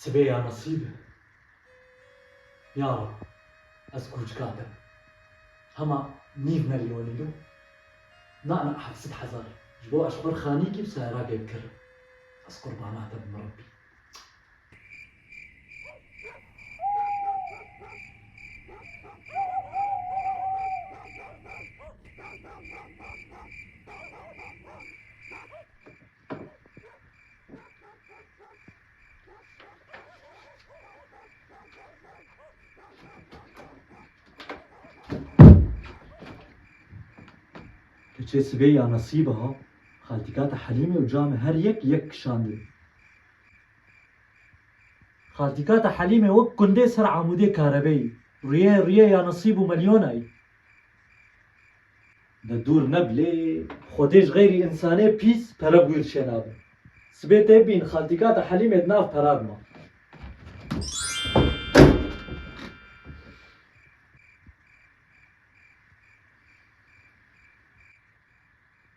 Sibê ya nasîb e. Ya rab ez kûçika te hema nîv melyonî re na na heft sed hezar ji bo eşqur xanîkî bi sayragê bikirim. Ez qurbana te bim Rabbî. Keçê sibê ya nesîba xaltîkata Helîmê û Camê her yek yek kişandin. Xaltîkata Helîmê wek kundê ser amûdê karebeyî. Rûyê rûyê ya nesîb û melyonayî. Ne dûr ne bi lê. Xwedê ji xeyrî însanê pîs pere bi wî re çênabin. Sibê tê bibîn xaltîka te Helîmê di nav pera de ma.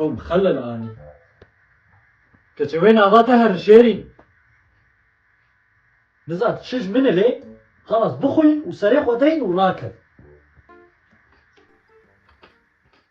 Ew bi xelil anî. Keçê wê nava te herin şêrîn. Niza tu çi ji min ilê, xelas bixwîn û serê xwe deyn û rakeve.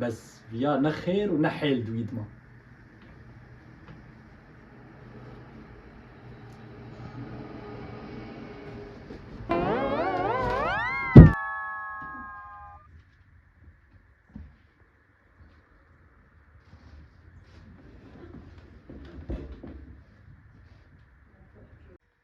Bes viya ne xêr û ne hêl di wî dima.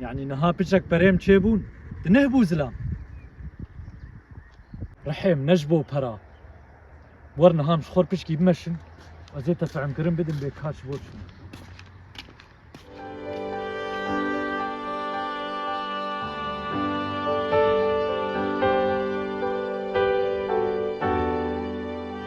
Yani niha piçek perêm çêbûn, di neh bû zilam. Rihêm ne ji bo pera. Wer niha em ji xwe piçkî bimeşin, ez ê te fehmkirin bidim bê kar ji bo çi ne.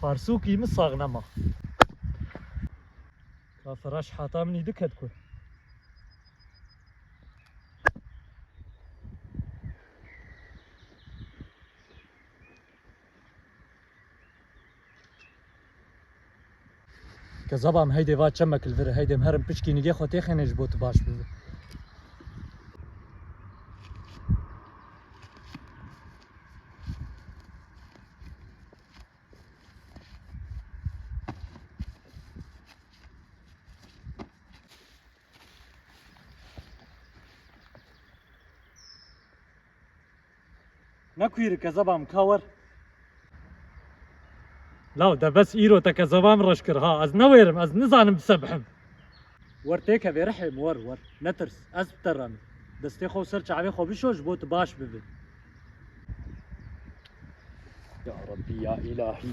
Farsûkî min sax nema. Ka firaş hata minî diket ku. Ke zabam heydê va çemek li vir heydê herim piçkî nigê xwe têxênê ji bo tu baş bibî. Nakuiri kezabam ka wer. Law de bes îro te kezabam reş kir ha ez newêrim ez nizanim bisebhim. Wer têkevê rihim wer wer netirs ez bi te re me. Destê xwe û ser çavê xwe bişo ji bo tu baş bibê. Ya Rabbî ya Îlahî.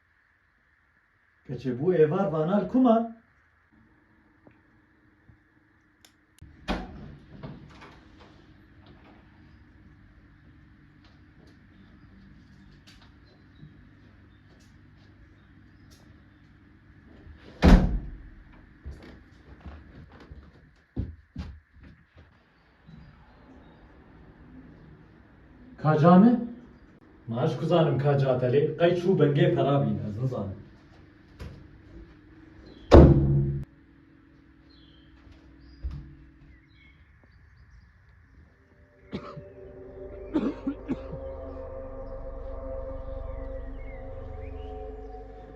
Keçê bû êvar vana li ku man? Ka ca me? Ma ez ji ku zanim ka ca te lê qey çû bingê pera bîne ez nizanim.